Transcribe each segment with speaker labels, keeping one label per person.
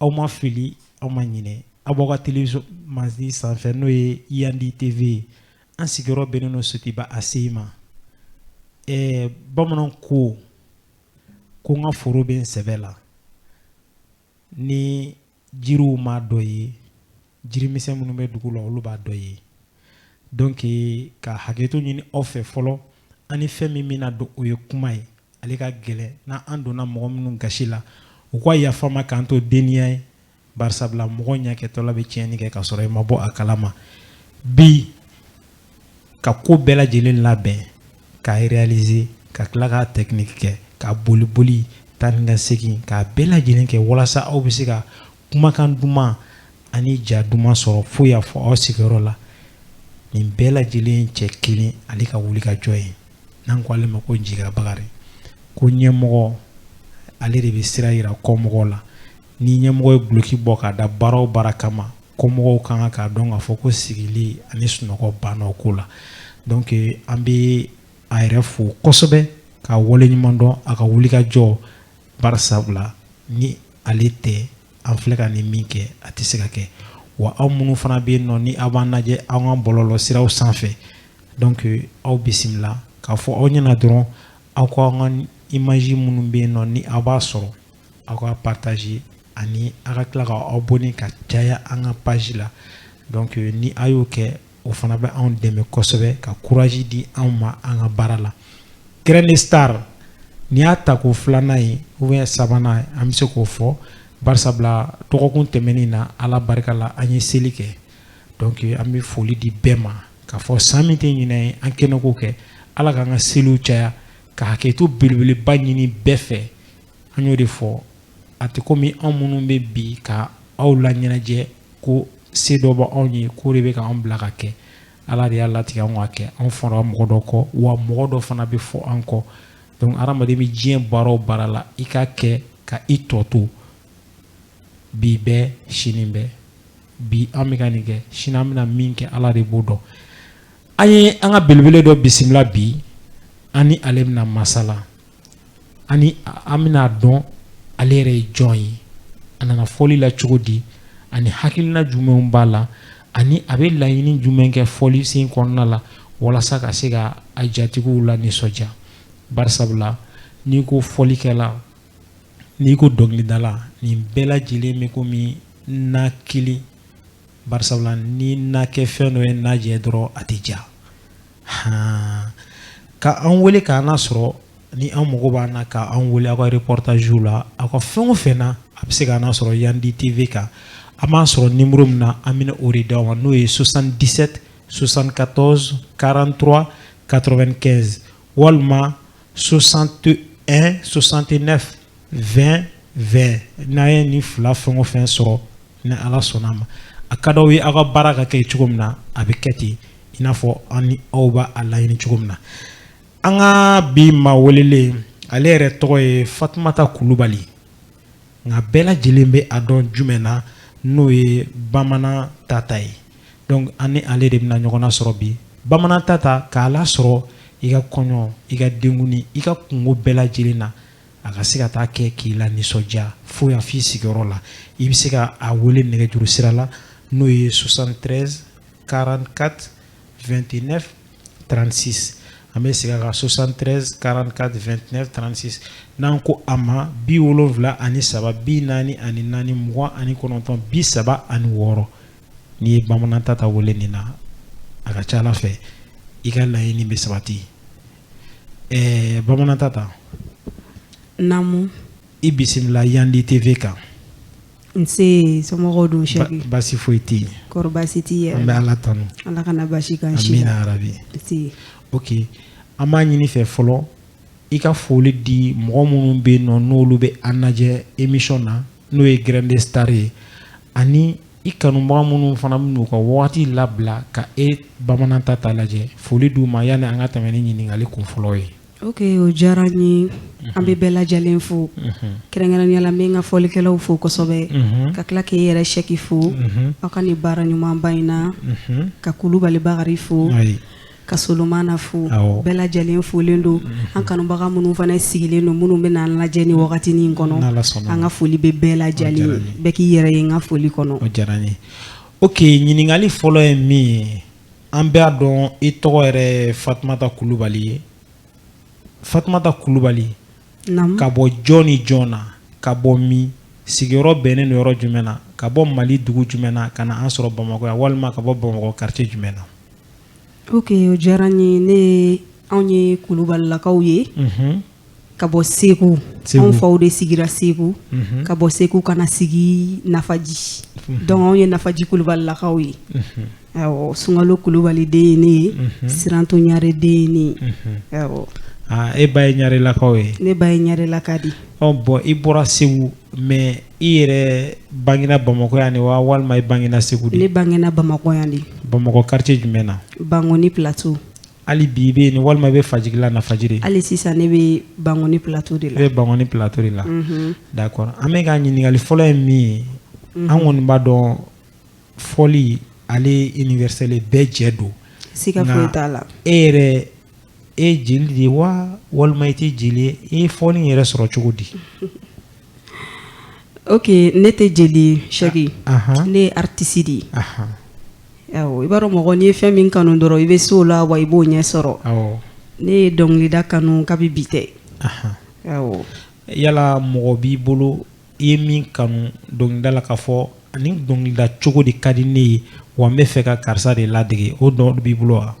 Speaker 1: aw ma fili aw ma ɲinɛ aw b'aw ka télévision mansin sanfɛ n'o ye Yandi TV ye an sigiyɔrɔ bɛnnen don Sotuba ACI ma ɛɛ bamananw ko ko n ka foro bɛ n sɛbɛ la ni jiriw m'a dɔ ye jirimisɛn minnu bɛ dugu la olu b'a dɔ ye donc ka hakɛto ɲini aw fɛ fɔlɔ an ni fɛn min bɛna don o ye kuma ye ale ka gɛlɛn n'an donna mɔgɔ minnu gasi la u ka yafa an ma k'an to denniya ye barisabula mɔgɔ ɲɛkɛtɔla bɛ tiɲɛni kɛ ka sɔrɔ i ma bɔ a kalama bi ka ko bɛɛ lajɛlen labɛn k'a réaliser ka tila ka technique kɛ ka boli boli taa ni ka segin k'a bɛɛ lajɛlen kɛ walasa aw bɛ se ka kumakan duman ani ja duman sɔrɔ fo y'a fɔ aw sigiyɔrɔ la nin bɛɛ lajɛlen cɛ kelen ale ka wuli ka jɔ ye n'an ko ale ma ko Njiga Bakari ko ɲɛmɔgɔ ale de bɛ sira yira kɔmɔgɔw la ni ɲɛmɔgɔ ye duloki bɔ k'a da baara o baara kama kɔmɔgɔw kan k'a dɔn k'a fɔ ko sigili ani sunɔgɔ banna o ko la donc an bɛ a yɛrɛ fo kosɛbɛ k'a wale ɲuman dɔn a ka wuli ka jɔ Barisabula ni ale tɛ an filɛ ka nin min kɛ a tɛ se ka kɛ wa aw minnu fana bɛ yen nɔ ni aw b'an lajɛ aw ka bɔlɔlɔ siraw sanfɛ donc aw bisimila k'a fɔ aw ɲɛna dɔrɔn aw ka an ka image minnu bɛ yen nɔ ni aw b'a sɔrɔ aw k'a partager ani aw ka tila ka aw abonner ka caya an ka page la donc ni a y'o kɛ o fana bɛ anw dɛmɛ kosɛbɛ ka courage di anw ma an ka baara la Grand Star n'i y'a ta ko filanan ye ou bien sabanan an bɛ se k'o fɔ barisabula dɔgɔkun tɛmɛnen na ala barika la an ye seli kɛ donc an bɛ foli di bɛɛ ma k'a fɔ san min tɛ ɲinan ye an kɛnɛ k'o kɛ ala k'an ka seliw caya ka hakɛto belebeleba ɲini bɛɛ fɛ an y'o de fɔ a tɛ komi anw minnu bɛ bi ka aw laɲɛnajɛ ko se dɔ bɛ anw ye k'o de bɛ k'an bila k'a kɛ ala de y'a latigɛ anw k'a kɛ anw fɔra mɔgɔ dɔ kɔ wa mɔgɔ dɔ fana bɛ fɔ an kɔ donc hadamaden bɛ diɲɛ baara o baara la i k'a kɛ ka i tɔ to bi bɛɛ sini bɛɛ bi an bɛ ka nin kɛ sini an bɛna min kɛ ala de b'o dɔn An ye an ka belebele dɔ bisimila bi an ni ale bɛna masala ani an bɛna dɔn ale yɛrɛ ye jɔn ye a nana fɔli la cogo di ani hakilina jumɛnw b'a la ani a bɛ laɲini jumɛn kɛ fɔli sen kɔnɔna la walasa ka se ka a jatigiw la nisɔndiya barisabula n'i ko fɔlikɛla n'i ko dɔnkilidala nin bɛɛ lajɛlen bɛ ko min na kelen barisa la ni na kɛ fɛn dɔ ye naajɛ dɔrɔn a tɛ ja h ka an wele k' an sɔrɔ ni an mago b'a na ka an wele aw kare pɔrɔtazo la aw ka fɛn o fɛ na a bɛ se k' an sɔrɔ yan di tɛ v kan an b'a sɔrɔ nimuru min na an bɛ o de da aw ma n'o ye sosan disɛte sosan ka tɔnz karantura katorɛ kɛ walima sosan to sosante ne fɛ2 2 n'a ye nin fila fɛn o fɛn sɔrɔ ni ala sɔnna a ma a ka d'aw ye aw ka baara ka kɛ cogo min na a bɛ kɛ ten i n'a fɔ an ni aw b'a laɲini cogo min na an ka bi maa welelen ale yɛrɛ tɔgɔ ye fatumata kulubali nka bɛɛ lajɛlen bɛ a dɔn jumɛn na n'o ye bamanan tata ye donc an ni ale de bɛna ɲɔgɔnna sɔrɔ bi bamanan tata k'a lasɔrɔ i ka kɔɲɔ i ka denkundi i ka kunko bɛɛ lajɛlen na a ka se ka taa kɛ k'i la nisɔndiya fo yan f'i sigiyɔrɔ la i bɛ se ka a wele nɛgɛjuru sira la n'o ye 73 44 29 36 an bɛ segin a kan 73 44 29 36 n'an ko a ma bi wolonwula ani saba bi naani ani naani mugan ani kɔnɔntɔn bi saba ani wɔɔrɔ n'i ye bamanan tata wele nin na a ka ca ala fɛ i ka laɲini bɛ sabati ɛɛ bamanan tata
Speaker 2: naamu
Speaker 1: i bisimila yandi tv kan nse
Speaker 2: somɔgɔw dun sɛki basi foyi tɛ yen
Speaker 1: kɔrɔ basi t'i yɛrɛ an
Speaker 2: bɛ ala tanu
Speaker 1: ala kana basi
Speaker 2: k'an si amina yarabi
Speaker 1: nse ok an b'a ɲini i fɛ fɔlɔ i ka foli di mɔgɔ minnu bɛ yen nɔ n'olu bɛ an lajɛ émission na n'o ye graine de star ye ani I kanubaga minnu fana bɛn'u ka wagati labila ka e bamanan tata lajɛ foli d'u ma yanni an ka tɛmɛ ni ɲininkakali kun fɔlɔ ye
Speaker 2: ok o diyara n ye an bɛ bɛɛ lajɛlen fo kɛrɛnkɛrɛnnenya la n bɛ n ka fɔlikɛlaw fo kosɛbɛ ka tila k'i yɛrɛ sɛki fo aw ka nin baara ɲumanba in na ka kulubali bakarijan fo ka solomana fo bɛɛ lajɛlen folen don mhm. an kanubaga minnu fana sigilen don minnu bɛ n'an lajɛ nin wagati in kɔnɔ an ka foli bɛ bɛɛ lajɛlen bɛɛ k'i yɛrɛ ye n ka foli kɔnɔ
Speaker 1: ok ɲininkali fɔlɔ ye min ye an b'a dɔn i tɔgɔ yɛrɛ fatumata kulubali ye fatumata kulubali ka bɔ jɔn ni jɔn na ka bɔ min sigiyɔrɔ bɛnnen don yɔrɔ jumɛn na ka bɔ mali dugu jumɛn na ka na an sɔrɔ bamakɔ yan walima ka bɔ bamakɔ quartier jumɛn na
Speaker 2: Ok o diyara n ye ne anw ye kulubalilakaw ye ka bɔ segu anw faw de sigira segu ka bɔ segu ka na sigi nafaji donc anw ye nafaji kulubalilakaw ye sunkalo kulubali den ye ne ye siranto ɲare den ye ne ye e ba
Speaker 1: ye ɲarelakaw ye ne ba ye ɲarelaka di
Speaker 2: bon i bɔra
Speaker 1: segu mais I yɛrɛ bangena bamakɔ yan de wa walima i bangena segu de? Ne bangena bamakɔ yan de.
Speaker 2: Bamakɔ quartier jumɛn
Speaker 1: na? Bangoni plateau.
Speaker 2: Hali bi i bɛ
Speaker 1: yen walima i bɛ fajigila nafaji de? Hali sisan ne
Speaker 2: bɛ bangoni plateau de la. E bɛ bangoni plateau
Speaker 1: de la d'accord an bɛ ka ɲininkali fɔlɔ ye min ye an kɔni b'a dɔn fɔli ale universel ye bɛɛ jɛ don siga foyi t'a
Speaker 2: la e yɛrɛ
Speaker 1: e jeli de ye wa walima i tɛ jeli ye e ye fɔli in yɛrɛ sɔrɔ cogo di
Speaker 2: ok ne tɛ jeli ye Sɛki ne ye artiste de ye awɔ i b'a dɔn mɔgɔ n'i ye fɛn min kanu dɔrɔn i bɛ se o la wa i b'o ɲɛ sɔrɔ ne ye dɔnkilida kanu kabi bi tɛ awɔ yala mɔgɔ b'i bolo
Speaker 1: i ye min kanu dɔnkilida la k'a fɔ ani dɔnkilida cogo de ka di ne ye wa n b'a fɛ ka karisa de ladege o dɔ b'i bolo wa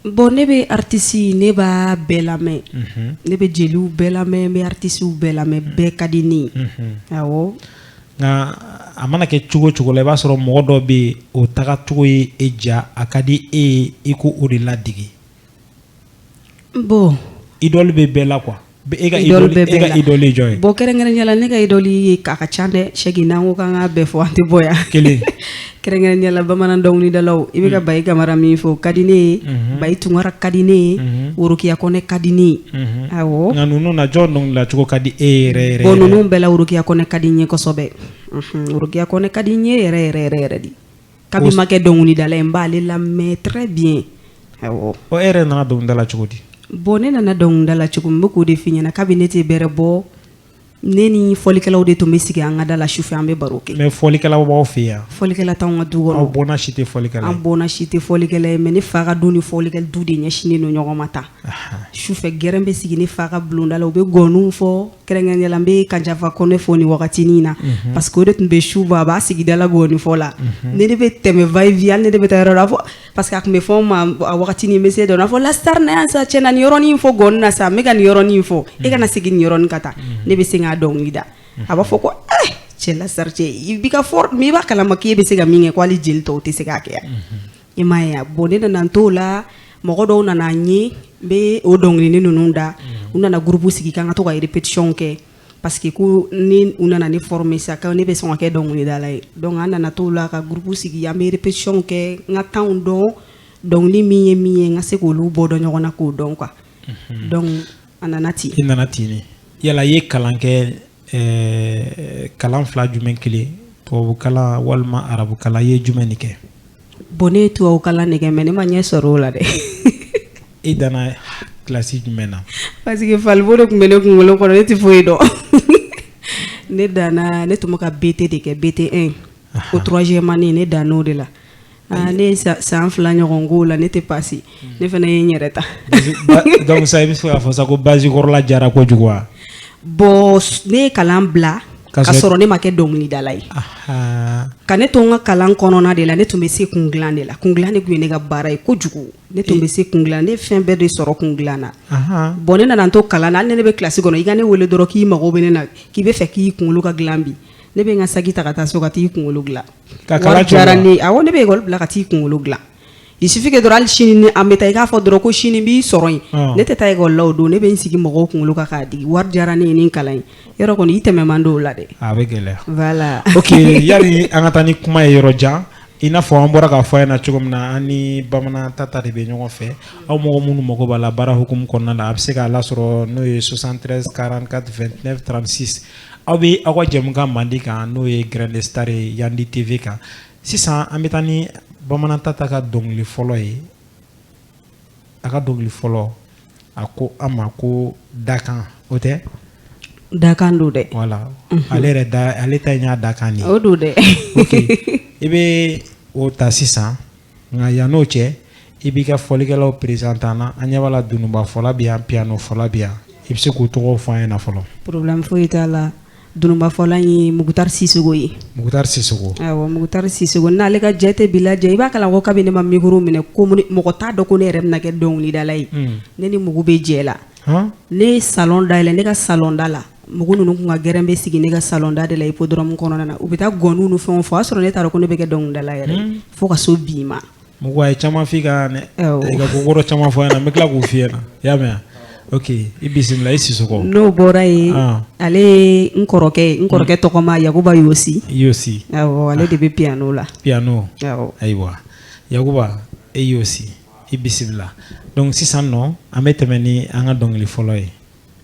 Speaker 1: bon ne
Speaker 2: bɛ aritisi ne b'a bɛɛ lamɛn mhm. ne bɛ jeliw bɛɛ lamɛn n bɛ aritisiw bɛɛ lamɛn mhm. bɛɛ ka di ne ye mhm. awɔ nka a mana
Speaker 1: kɛ cogo cogo la i b'a sɔrɔ mɔgɔ dɔ bɛ yen o tagacogo ye e ja a ka di e ye i ko o de ladege bon idole bɛ bɛɛ la quoi E ka idole ye jɔn ye bon kɛrɛnkɛrɛnya la ne
Speaker 2: ka idole ye k'a ka ca dɛ Sɛki n'an ko k'an k'a bɛɛ fɔ an tɛ bɔ yan kelen kɛrɛnkɛrɛnya la bamanan dɔnkilidalaw i bɛ ka bayi kamara min fɔ ka di ne ye bayi tunkara ka di ne ye worokiya kɔnɛ ka di ne ye nka ninnu na jɔn dɔnkilida cogo ka di e yɛrɛ bon ninnu bɛɛ la worokiya kɔnɛ ka di n ye kosɛbɛ worokiya kɔnɛ ka di n ye yɛrɛ yɛrɛ yɛrɛ yɛrɛ de Kabi n ma kɛ dɔnkilidala ye n b'ale lamɛn très bien ɔ e yɛrɛ nana dɔnkilida la cogo di bon ne nana dɔnkilida la cogo min n bɛ k'o de f'i ɲɛna kabi ne tɛ bɛrɛ bɔ ne ni fɔlikɛlaw de tun bɛ sigi an ka da la sufɛ an bɛ baro kɛ mais fɔlikɛlaw b'aw fɛ yan fɔlikɛla t'an ka du kɔnɔ aw bɔnna si tɛ fɔli an bɔnna si tɛ fɔlikɛla ye mais ne fa ka du ni fɔlikɛla du de ɲɛsinnen don ɲɔgɔn ma tan sufɛ gɛrɛn bɛ sigi ne fa ka bulonda la u bɛ gɔni fɔ kɛrɛnkɛrɛnya la n bɛ Kanjafa kɔnɛ fo nin wagatinin in na unhun parce que o de tun bɛ su bɔ a b'a sigi da la gɔnifɔ la unhun ni ne bɛ tɛmɛ va et vient hali ni ne bɛ taa yɔrɔ la a b'a fɔ parce que a tun bɛ fɔ n ma a wagatinin n bɛ se dɔn na a b'a fɔ la star na yan sa cɛ na nin yɔrɔnin fɔ gɔni na sa n bɛ ka nin yɔrɔnin fɔ e ka na segin nin yɔrɔnin ka taa ne bɛ sin k'a dɔnkili da a b'a fɔ ko eh cɛ la star cɛ i bi ka fort mais i b'a kalama k'e bɛ se ka min kɛ ko hali jeli tɔw tɛ se k'a kɛ a unhun I m'a ye a bon ne nana n t'o la mɔgɔ dɔw nana n ye n bɛ o dɔnkilini ninnu da u nana groupe sigi k'an ka to ka répétition kɛ parce que ko ni u nana ne former sa ko ne bɛ sɔn ka kɛ dɔnkilidala ye donc an nana t'o la ka groupe sigi an bɛ répétition kɛ n ka tempsw dɔn dɔnkili min ye min ye n ka se k'olu bɔ dɔn ɲɔgɔn na k'o dɔn quoi donc a nana ten i nana ten de yala i ye kalan kɛ eh, kalan fila jumɛn kelen tubabukalan walima arabukalan i ye jumɛn de kɛ bon ne ye tubabukalan de kɛ mais ne ma ɲɛ sɔrɔ o la dɛ i danna kilasi jumɛn na parce que falibo de tun bɛ ne kunkolo kɔnɔ ne tɛ foyi dɔn ne danna ne tun bɛ ka bt de kɛ bt 1 ko troisième année ne dann'o de la Ah, ne ye san fila ɲɔgɔn k'o la ne tɛ pasi hmm. ne fana ye n yɛrɛ ta donc sa i bɛ se k'a fɔ sa ko base kɔrɔla diyara kojugu wa bon ne ye kalan bila ka sɔrɔ ne ma kɛ dɔnkilidala ye ka ne to n ka kalan kɔnɔna de la ne tun bɛ se kun dilan de la kun dilan de tun ye ne ka baara ye kojugu ne tun bɛ se kun dilan ne fɛn bɛɛ de sɔrɔ kun dilan na bon ne nana n to kalan na hali ni ne bɛ kilasi kɔnɔ i ka ne wele dɔrɔn k'i mago bɛ ne na k'i b'a fɛ k'i kunkolo ka dilan bi ne bɛ n ka saki ta ka taa so ka t'i kunkolo dilan Ka kalan caya wari diyara ne ye awɔ ne bɛ école bila ka t'i kunkolo gilan il suffit que dɔrɔn hali sini ni an bɛ taa i k'a fɔ dɔrɔn ko sini n b'i sɔrɔ yen Ɔn. ne tɛ taa école la o don ne bɛ n sigi mɔgɔw kunkolo kan k'a digi wari diyara ne ye nin kalan in yɔrɔ kɔni i tɛmɛ man di o la dɛ a bɛ gɛlɛya voilà ok yani an ka taa ni kuma ye yɔrɔ jan i
Speaker 1: n'a fɔ an bɔra k'a fɔ a ɲɛna cogo min na an ni bamanan tata de bɛ ɲɔgɔn fɛ aw mɔgɔ minnu mago b'a la baara hukumu kɔnɔna la a bɛ se k'a lasɔrɔ n'o ye 73 44 29 36 Aw bɛ aw ka jɛmukan mandi kan n'o ye Grain de star ye Yandi TV kan. Sisan an bɛ taa ni Bamanan Tata ka dɔnkili fɔlɔ ye. A ka dɔnkili fɔlɔ, a ko an ma ko dakan, o tɛ?
Speaker 2: Dakan don dɛ! Voilà ale
Speaker 1: yɛrɛ da, ale ta in y'a dakan de ye. O don dɛ! Ok i bɛ o ta sisan. nka yann'o cɛ i b'i ka fɔlikɛlaw présenter an na an ɲɛ b'a la dununba fɔla bɛ yan piyano fɔla bɛ yan i bɛ se k'u tɔgɔ fɔ an ɲɛna fɔlɔ problème foyi t'a la
Speaker 2: dununba fɔla ye mukutari sisoko ye mukutari
Speaker 1: sisoko mukutari
Speaker 2: sisoko n'ale ka jate bɛ lajɛ i b'a kalan ko kabini ne ma micro minɛ ko mɔgɔ t'a dɔn ko ne yɛrɛ bɛna kɛ dɔnkilidala ye ne ni mugu bɛ jɛ la ne ye salon dayɛlɛ ne ka salon da la Mugu ninnu tun ka gɛrɛn bɛ sigi ne ka salon da de la hippodrome kɔnɔna na u bɛ taa gɔni ni fɛn fɔ o y'a sɔrɔ ne t'a dɔn ko ne bɛ kɛ dɔnkilidala yɛrɛ fo ka se bi ma mugu a ye caman f'i
Speaker 1: kan dɛ i ka kokɔrɔ caman fɔ n ɲɛna n bɛ tila k'u f'i ɲɛna i y'a mɛn ok i bisimila i sisoko n'o bɔra
Speaker 2: ye ale n kɔrɔkɛ n kɔrɔkɛ tɔgɔma yakuba yosi yosi ale de bɛ piyano la piyano
Speaker 1: ayiwa yakuba e yosi i bisimila donc sisan nɔ an bɛ tɛmɛ ni an ka dɔnkili fɔlɔ ye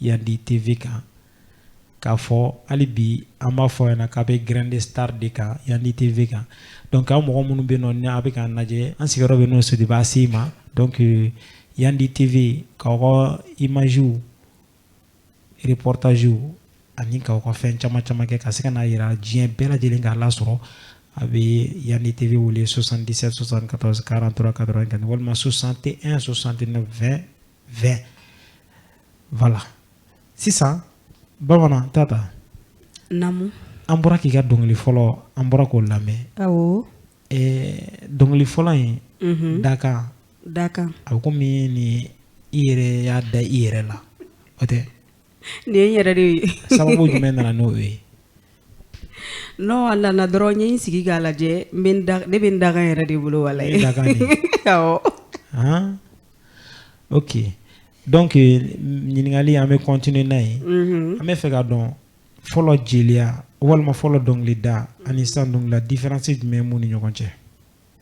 Speaker 1: Yandi TV kan k'a fɔ hali bi an b'a fɔ ɲɛna k'a bɛ Grand Star de kan Yandi TV kan donc aw mɔgɔ minnu bɛ yen nɔ ni a bɛ k'an lajɛ an sigiyɔrɔ bɛ n'o Sotuba ACI ma donc Yandi TV k'aw ka image reportage ani k'aw ka fɛn caman caman kɛ ka se ka n'a jira diɲɛ bɛɛ lajɛlen k'a lasɔrɔ a bɛ Yandi TV wele 77 74 43 95 walima 61 69 20 20 voilà sisan Bamanan Tata naamu
Speaker 2: an bɔra k'i
Speaker 1: ka dɔnkili fɔlɔ an bɔra k'o lamɛn awɔ eh, dɔnkili fɔlɔ in mhm. dakan dakan a bɛ komi ni i yɛrɛ y'a da i yɛrɛ la o tɛ Nin ye n
Speaker 2: yɛrɛ de ye sababu jumɛn
Speaker 1: nana n'o
Speaker 2: ye non a nana dɔrɔn n ye n sigi k'a lajɛ ne bɛ n dakan yɛrɛ de bolo wala
Speaker 1: ok donc ɲininkali an bɛ continuer n'a ye an bɛ fɛ ka dɔn fɔlɔ jeliya walima fɔlɔ dɔnkili da ani sisan dɔnkili da différence jumɛn b'u ni ɲɔgɔn cɛ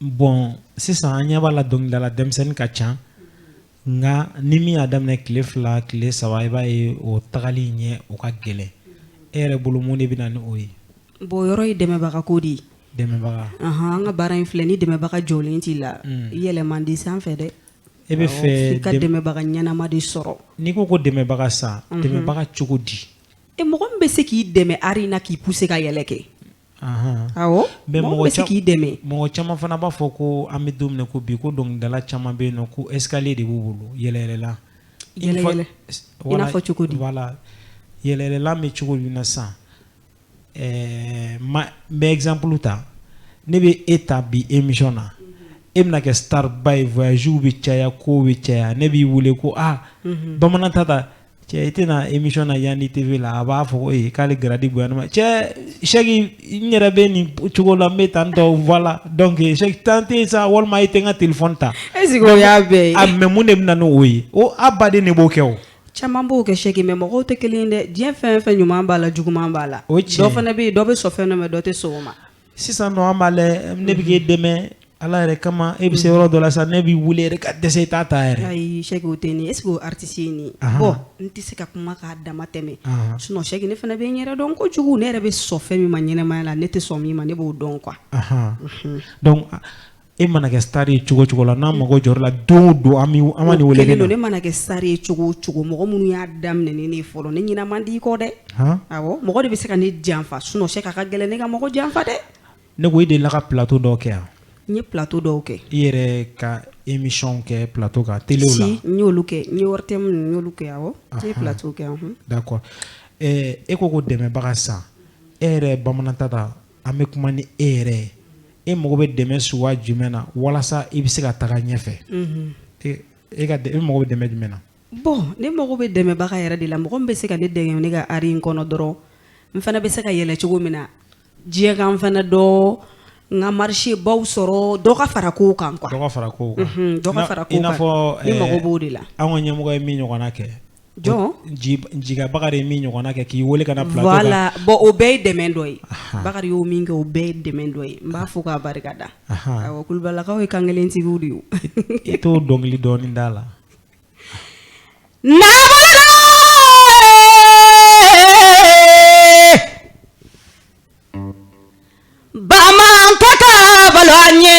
Speaker 1: bɔn sisan an ɲɛ b'a la dɔnkilidala denmisɛnnin ka ca nka ni min y'a daminɛ tile fila tile saba i b'a ye o tagali ɲɛ o ka gɛlɛn e yɛrɛ bolo mun de bɛ na ni o ye bon o yɔrɔ ye
Speaker 2: dɛmɛbaga ko de ye dɛmɛbaga
Speaker 1: anhan an ka baara
Speaker 2: in filɛ ni dɛmɛbaga jɔlen t'i la yɛlɛ man di sanfɛ dɛ e bɛ
Speaker 1: fɛ f'i ka dɛmɛbaga
Speaker 2: ɲɛnama de sɔrɔ n'i ko ko dɛmɛbaga
Speaker 1: sa dɛmɛbaga cogo di e mɔgɔ min bɛ se
Speaker 2: k'i dɛmɛ art in na k'i pousser ka yɛlɛ kɛ k'i dɛmɛ mɔgɔ caman fana b'a
Speaker 1: fɔ ko an bɛ don min na ko bi ko dɔnkilidala caman bɛ yen nɔ ko escalier de b'u bolo
Speaker 2: yɛlɛyɛlɛlan cogo
Speaker 1: voilà yɛlɛyɛlɛlan bɛ cogo min na sisan n bɛ exemple ta ne bɛ e ta bi émission na e bɛna kɛ star ba ye voyagew bɛ caya ko bɛ caya ne b'i wele ko aa Bamanan Tata cɛ i tɛna émission na Yandi TV la a b'a fɔ ko ee k'ale grade bonyana ma cɛ Sɛki n yɛrɛ bɛ nin cogo la n bɛ tan tɔ voilà donc Sɛki temps tɛ yen sa walima i tɛ n ka téléphone ta. est ce que o y'a
Speaker 2: bɛɛ ye. mais mun de bɛ na
Speaker 1: n'o ye o a baden de b'o kɛ o. caman b'o kɛ
Speaker 2: Sɛki mais mɔgɔw tɛ kelen ye dɛ diɲɛ fɛn fɛn ɲuman b'a la juguman b'a la. o ye tiɲɛ ye dɔ fana bɛ yen dɔ bɛ sɔn fɛn dɔ ma dɔ tɛ sɔn o ma. Sisan nɔ an b'a lajɛ
Speaker 1: ne bɛ k'e dɛmɛ Ala yɛrɛ kama e bɛ se yɔrɔ dɔ la sa ne b'i wele yɛrɛ ka dɛsɛ i t'a ta yɛrɛ, ayi Sɛki o tɛ ne ye
Speaker 2: est ce que o ye artiste ye nin ye, ahan, bon n tɛ se ka kuma k'a dama tɛmɛ, ahan, sinon Sɛki ne fana bɛ n yɛrɛ dɔn kojugu ne yɛrɛ bɛ sɔn fɛn min ma ɲɛnamaya la ne tɛ sɔn min ma ne b'o dɔn quoi, anhan,
Speaker 1: unhun, donc e mana kɛ star ye cogo cogo la n'a mago jɔra la don o don a mana n wele ne mana kɛ star ye
Speaker 2: cogo cogo mɔgɔ minnu y'a daminɛ ne ye fɔlɔ ne ɲinɛ man di kɔ dɛ mɔgɔ de bɛ se ka ne janfa sinon c'est que a ka gɛlɛn ne ka mɔgɔ janfa dɛ ne ko e delila ka
Speaker 1: plateau dɔw kɛ yan n ye plateau
Speaker 2: dɔw kɛ i yɛrɛ
Speaker 1: ka émission kɛ plateau kan télé la n y'olu kɛ n
Speaker 2: ye wari tɛ minnu y'olu kɛ yan n ye plateau kɛ
Speaker 1: d'accord e ko ko dɛmɛbaga san e yɛrɛ bamanan ta An bɛ kuma ni e yɛrɛ ye e mago bɛ dɛmɛ suguya jumɛn na walasa i bɛ se ka taga ɲɛfɛ e e mago bɛ dɛmɛ jumɛn na bon ne mago bɛ
Speaker 2: dɛmɛbaga yɛrɛ de la mɔgɔ min bɛ se ka ne dɛmɛ ne ka art in kɔnɔ dɔrɔn n fana bɛ se ka yɛlɛ cogo min na diɲɛ ka n fana dɔn n ka marché baw sɔrɔ dɔ ka fara ko kan fara fara mago b'o
Speaker 1: de la
Speaker 2: an ka ɲɛmɔgɔ ye min
Speaker 1: ɲɔgɔn kɛ
Speaker 2: jɔn ji jiga
Speaker 1: Bakari ye min ɲɔgɔnna kɛ k'i wele ka na plateau kan voilà bon o bɛɛ ye
Speaker 2: dɛmɛ dɔ ye Ahan. Bakari y'o min kɛ o bɛɛ ye dɛmɛ dɔ ye n b'a fo k'a barika da Ahan. awɔ Kulubalakaw ye kankelentigiw de ye o. i t'o
Speaker 1: dɔnkili
Speaker 2: dɔɔni
Speaker 1: da la
Speaker 3: Bamantata balo an ye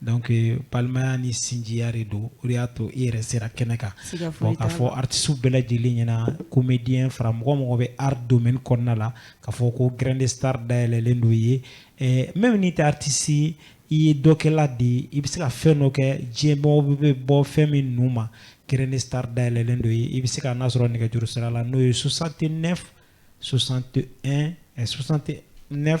Speaker 1: Donc balimaya ni sinjiya de don o de y'a to i yɛrɛ sera kɛnɛ kan bon k'a fɔ artistes bɛɛ lajɛlen ɲɛna comédien fara mɔgɔ o mɔgɔ bɛ art domaine kɔnɔna la k'a fɔ ko grain de star dayɛlɛlen don i ye ɛɛ même n'i tɛ artiste ye i ye dɔnkɛla de ye i bɛ se ka fɛn dɔ kɛ diɲɛ mɔgɔ bɛ bɔ fɛn min nu ma grain de star dayɛlɛlen don i ye i bɛ se ka n'a sɔrɔ nɛgɛjuru sira la n'o ye 69 61 69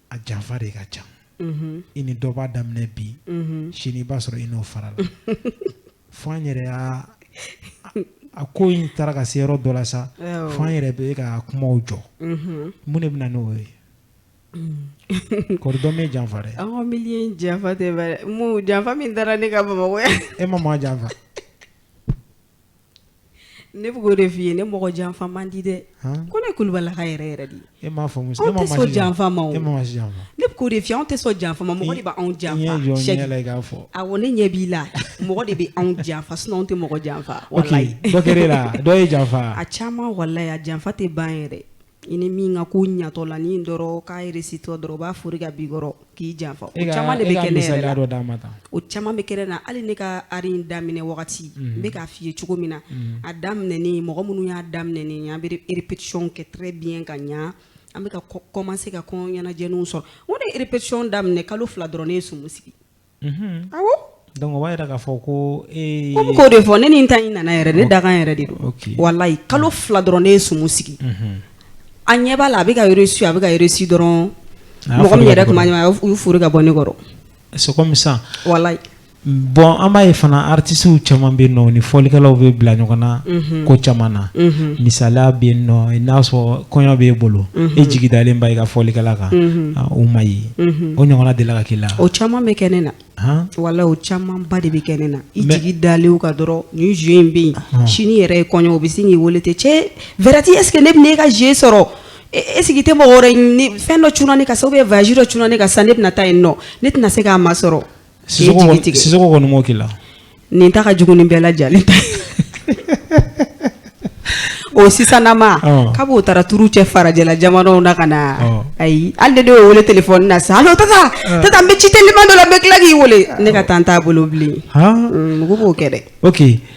Speaker 1: a janfa de ka ca i ni dɔ b'a daminɛ bi sini i b'a sɔrɔ i n'o farala fo an yɛrɛ a ko in taara ka se yɔrɔ dɔ la sa fo an yɛrɛ bɛ ka kumaw jɔ mun de bɛna n'o ye kɔri dɔ m'e janfa dɛ aw mi janfa
Speaker 2: tɛ janfa min taara ne ka Bamakɔ e ma maa janfa Ne bɛ k'o de f'i ye ne mɔgɔ janfa man di dɛ ko ne Kulubalilaka yɛrɛ yɛrɛ de e m'a faamu anw tɛ sɔn janfa ma o ne
Speaker 1: bɛ k'o de f'i ye anw tɛ
Speaker 2: sɔn janfa ma mɔgɔ de b'anw
Speaker 1: janfa awɔ ne ɲɛ b'i
Speaker 2: la mɔgɔ de bɛ anw janfa sinon anw tɛ mɔgɔ janfa la
Speaker 1: ye
Speaker 2: janfa
Speaker 1: a
Speaker 2: caman
Speaker 1: walayi
Speaker 2: janfa
Speaker 1: tɛ
Speaker 2: ban yɛrɛ I ni min ka ko ɲatɔ la ni dɔrɔn k'a réussitɔ dɔrɔn b'a fori ka b'i kɔrɔ k'i janfa o caman de bɛ kɛ o caman bɛ kɛ ne na hali ne ka art in daminɛ wagati n bɛ k'a f'i ye cogo min na a daminɛ mɔgɔ minnu y'a daminɛ n ye an bɛ répétition kɛ très bien ka ɲɛ an bɛ ka commencer ka kɔɲɔ ɲɛnajɛw sɔrɔ o ne ye répétition daminɛ kalo fila dɔrɔn ne ye sumu sigi Donc o b'a
Speaker 1: jira k'a fɔ ko n bɛ k'o de
Speaker 2: fɔ ne nin ta in nana yɛrɛ ne dakan yɛrɛ de don walayi kalo fila dɔrɔn ne ye sumu sigi a ɲɛ b'a la a bɛ ka su a bɛ ka réussir dɔrɔn mɔgɔ min yɛrɛ tun b'a ɲɛ u y'u fori ka bɔ ne kɔrɔ c'est comme ça bon
Speaker 1: an b'a ye fana artistew caman bɛ yen nɔ ni fɔlikɛlaw bɛ bila ɲɔgɔn na ko caman na misaliya bɛ yen nɔ n'a sɔrɔ kɔɲɔ bɛ e bolo e jigi dalen b'a i ka fɔlikɛla kan o ma ye o ɲɔgɔnna delila ka k'i la o caman bɛ kɛ ne
Speaker 2: na walayi o caman ba de bɛ kɛ ne na i jigi dalen ka dɔrɔn nin jeu in bɛ yen sini yɛrɛ ye kɔɲɔ o bɛ sin k'i weele ten cɛ Verratti est-ce que ne bɛ ne ka jeu sɔrɔ est-ce que i tɛ mɔgɔ wɛrɛ ɲini fɛn dɔ cunna ne kan sa ou bien voyage dɔ cunna ne kan sa ne bɛna taa yen nɔ ne tɛna se k'a masɔrɔ
Speaker 1: kɔni m'o k'i la nin ta ka
Speaker 2: jugu ni bɛɛ lajɛlen ta o sisannama k'a b'o taara tour kɛ farajɛla jamanaw na ka na ayi ale de y'o weele téléphone na sa allô tata n bɛ ci teliman dɔ la n bɛ tila k'i weele ne ka temps t'a bolo bilen mɔgɔ b'o kɛ dɛ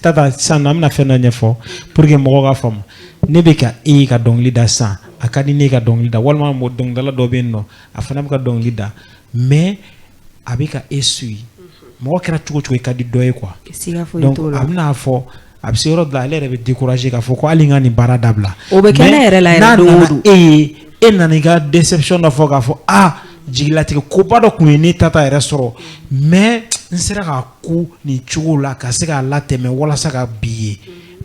Speaker 2: tata sisan an
Speaker 1: bɛna fɛn dɔ ɲɛfɔ pour que mɔgɔw ka faamu ne bɛ ka e ka dɔnkili da sisan a ka di ne ka dɔnkili da walima mɔgɔ dɔnkilidala dɔ bɛ yen nɔ a fana bɛ ka dɔnkili da mais a bɛ ka e suivre mɔgɔ kɛra cogo cogo i ka di dɔ ye quoi donc a bɛna fɔ a bɛ se yɔrɔ dɔ la ale yɛrɛ bɛ décourager k'a fɔ ko hali n ka nin baara dabila o bɛ kɛ ne yɛrɛ
Speaker 2: la yɛrɛ don o don e ye e nana i
Speaker 1: ka déception dɔ fɔ k'a fɔ ah jigilatigɛ koba dɔ tun ye ne tata yɛrɛ sɔrɔ mais n sera k'a kun nin cogo la ka se k'a latɛmɛ walasa ka bi ye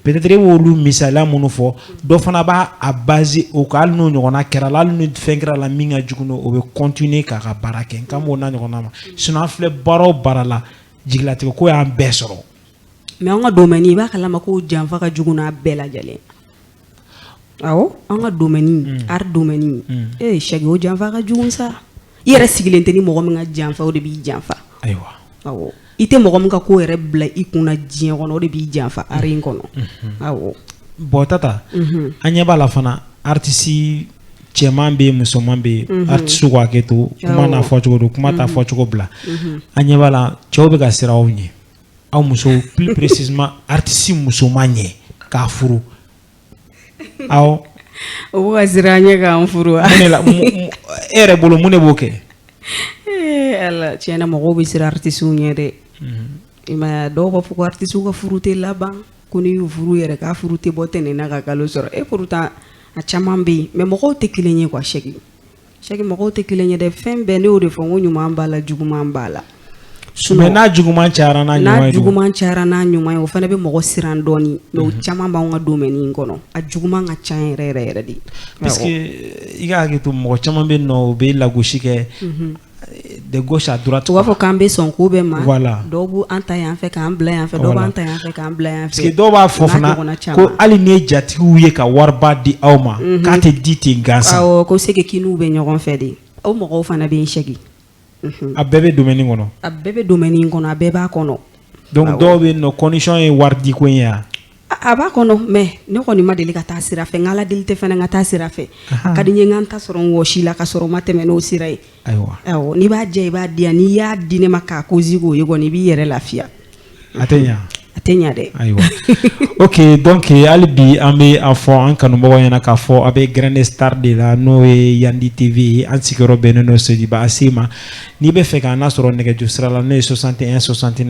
Speaker 1: peut-être e b'olu misaliya minnu fɔ dɔ fana b'a a base o kan hali n'o ɲɔgɔnna kɛr'a la hali ni fɛn kɛr'a la min ka jugu n'o o bɛ continuer k'a ka baara kɛ n kan b'o n'a ɲɔgɔnna ma sinon an filɛ baara o baara la jigilatigɛ ko y'an bɛɛ sɔrɔ mais an ka
Speaker 2: domaine i b'a kalama ko janfa ka jugu n'a bɛɛ lajɛlen Awɔ an ka domaine art domaine Cheick o janfa ka jugu sa i yɛrɛ sigilen tɛ ni mɔgɔ min ka janfa o de b'i janfa ayiwa
Speaker 1: i
Speaker 2: tɛ mɔgɔ min ka ko yɛrɛ bila i kunna diɲɛ kɔnɔ o de b'i janfa art in kɔnɔ bon
Speaker 1: tata an ɲɛ b'a la fana artiste cɛman bɛ yen musoman bɛ yen artiste ko hakɛ to kuma n'a fɔcogo don kuma t'a fɔcogo bila an ɲɛ b'a la cɛw bɛ ka siran aw ɲɛ aw musow plus précisément artiste musoman ɲɛ k'a furu
Speaker 2: aw o wa an ɲɛ k'an furu e
Speaker 1: yɛrɛ bolo mun de b'o kɛ
Speaker 2: ala tiɲɛ na mɔgɔw bɛ siran artistew ɲɛ dɛ mhm. dɔw b'a fɔ ko artistew ka furu tɛ laban ko n'i y'u furu yɛrɛ k'a furu tɛ bɔ tɛnɛn na ka kalo sɔrɔ et pourtant a caman bɛ yen mais mɔgɔw tɛ kelen ye quoi Cheick Cheick mɔgɔw tɛ kelen ye dɛ fɛn bɛɛ ne y'o de fɔ ko ɲuman b'a la juguman b'a la mais
Speaker 1: n'a juguman ca n'a n'a juguman cayara n'a
Speaker 2: ɲuman ye o fana bɛ mɔgɔ siran dɔɔnin mais o caman b'an ka domaine in kɔnɔ a juguman ka ca yɛrɛ yɛrɛ yɛrɛ
Speaker 1: de parce que i ka hakɛ to mɔgɔ caman bɛ yen nɔ u bɛ lagosi kɛ de gauche à droite u b'a fɔ k'an bɛ sɔn
Speaker 2: ko bɛɛ ma voilà dɔw b'u an
Speaker 1: ta yan
Speaker 2: fɛ k'an bila yan fɛ dɔw b'an ta yan fɛ k'an bila yan fɛ parce que dɔw b'a fɔ fana
Speaker 1: ko hali n'i ye jatigiw ye ka wariba di aw ma mhm. k'a tɛ di ten gansan awɔ ko seke
Speaker 2: kiniw bɛ ɲɔgɔn fɛ de o mɔgɔw fana bɛ yen Cheick mhm. a
Speaker 1: bɛɛ bɛ domaine in kɔnɔ a bɛɛ bɛ domaine in
Speaker 2: kɔnɔ a bɛɛ b'a kɔnɔ donc dɔw bɛ yen
Speaker 1: nɔ condition ye waridiko in ye wa A b'a
Speaker 2: kɔnɔ mais ne kɔni ma deli ka taa sira fɛ n ka ala deli tɛ fana ka taa sira fɛ ka di n ye n ka n ta sɔrɔ n wɔsi la ka sɔrɔ n ma tɛmɛ n'o sira ye n'i b'a jɛ i b'a di yan n'i y'a di ne ma k'a cause k'o ye kɔni i b'i yɛrɛ lafiya a tɛ ɲɛ
Speaker 1: a tɛ ɲɛ dɛ
Speaker 2: ayiwa
Speaker 1: ok donc hali bi an bɛ a fɔ an kanumɔgɔ ɲɛna k'a fɔ a bɛ grin de star de la n'o ye yandi tv ye an sigiyɔrɔ bɛnnen don Sotuba ACI ma n'i bɛ fɛ k'an nasɔrɔ nɛgɛjuru sira la n'o ye soixante et un soixante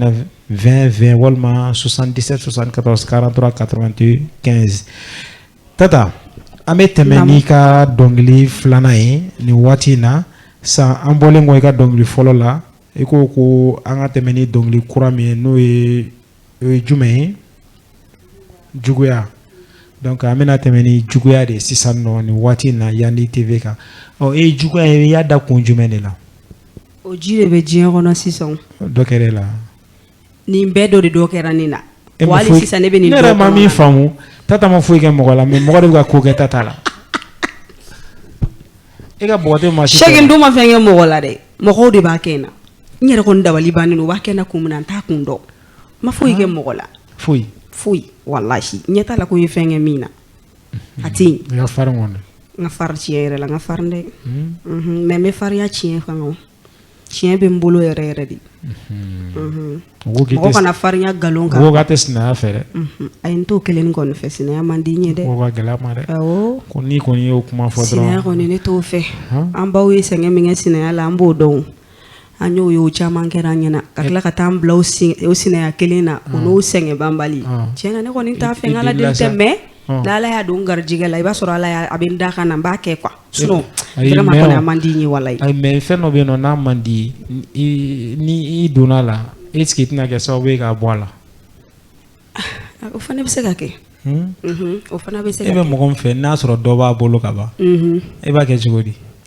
Speaker 1: 20 20 walima 77-74 43 81 15 tata an bɛ tɛmɛ n'i ka dɔnkili filanan ye nin waati in na san an bɔlen kɔ i ka dɔnkili fɔlɔ la i ko ko an ka tɛmɛ ni dɔnkili kura min ye n'o ye ye jumɛn ye juguya donc an bɛna tɛmɛ ni juguya de sisan nɔ nin waati in na yandi tv kan ɔ e ye juguya ye i y'a da kun jumɛn de la
Speaker 2: O ji de bɛ diɲɛ kɔnɔ sisan dɔ kɛra
Speaker 1: la
Speaker 2: nin bɛɛ dɔ de dɔ kɛra ne na hali sisan ne bɛ nin yɛrɛ ma min faamu
Speaker 1: tata ma foyi kɛ mɔgɔ la mais mɔgɔ de bɛ ka ko kɛ tata la e ka bɔden ma si Cheick dun ma fɛn kɛ mɔgɔ
Speaker 2: la dɛ mɔgɔw de b'a kɛ n na n yɛrɛ kɔni dabali bannen u b'a kɛ n na kun min na n t'a kun dɔn n ma foyi kɛ mɔgɔ la foyi foyi walayi n ɲɛ t'a la ko n ye fɛn kɛ min na a tɛ yen n ka farin
Speaker 1: kɔni n ka farin
Speaker 2: tiɲɛ yɛrɛ la n ka farin dɛ mais n bɛ farinya tiɲɛ fan tiɲɛ bɛ n bolo yɛrɛ yɛrɛ de mɔgɔ kana farinya nkalon kan mɔgɔ tɛ sinaya
Speaker 1: fɛ dɛ ayi n t'o
Speaker 2: kelen kɔni fɛ sinaya man di n ye dɛ gɛlɛya ma
Speaker 1: dɛ ko n'i kɔni
Speaker 2: y'o kuma
Speaker 1: fɔ sinaya kɔni ne t'o fɛ
Speaker 2: an baw ye sɛgɛn min kɛ sinaya la an b'o dɔn an y'o ye o caman kɛra an ɲɛna ka tila ka taa an bila o sinaya kelen na o n'o sɛgɛn banbali tiɲɛ na ne kɔni t'a fɛ n ka ala deli tɛ mais n'ala y'a don garijɛgɛ la i b'a sɔrɔ ala a bɛ n dakan na n b'a kɛ quoi sinon a man di n ye walayi mais fɛn dɔ bɛ yen
Speaker 1: n'a man di ni i donna a la est-ce que i tɛna kɛ sababu ye k'a bɔ a
Speaker 2: la o fana bɛ se ka kɛ o fana bɛ se e bɛ mɔgɔ min fɛ n'a
Speaker 1: sɔrɔ dɔ b'a bolo ka ban e b'a kɛ cogo di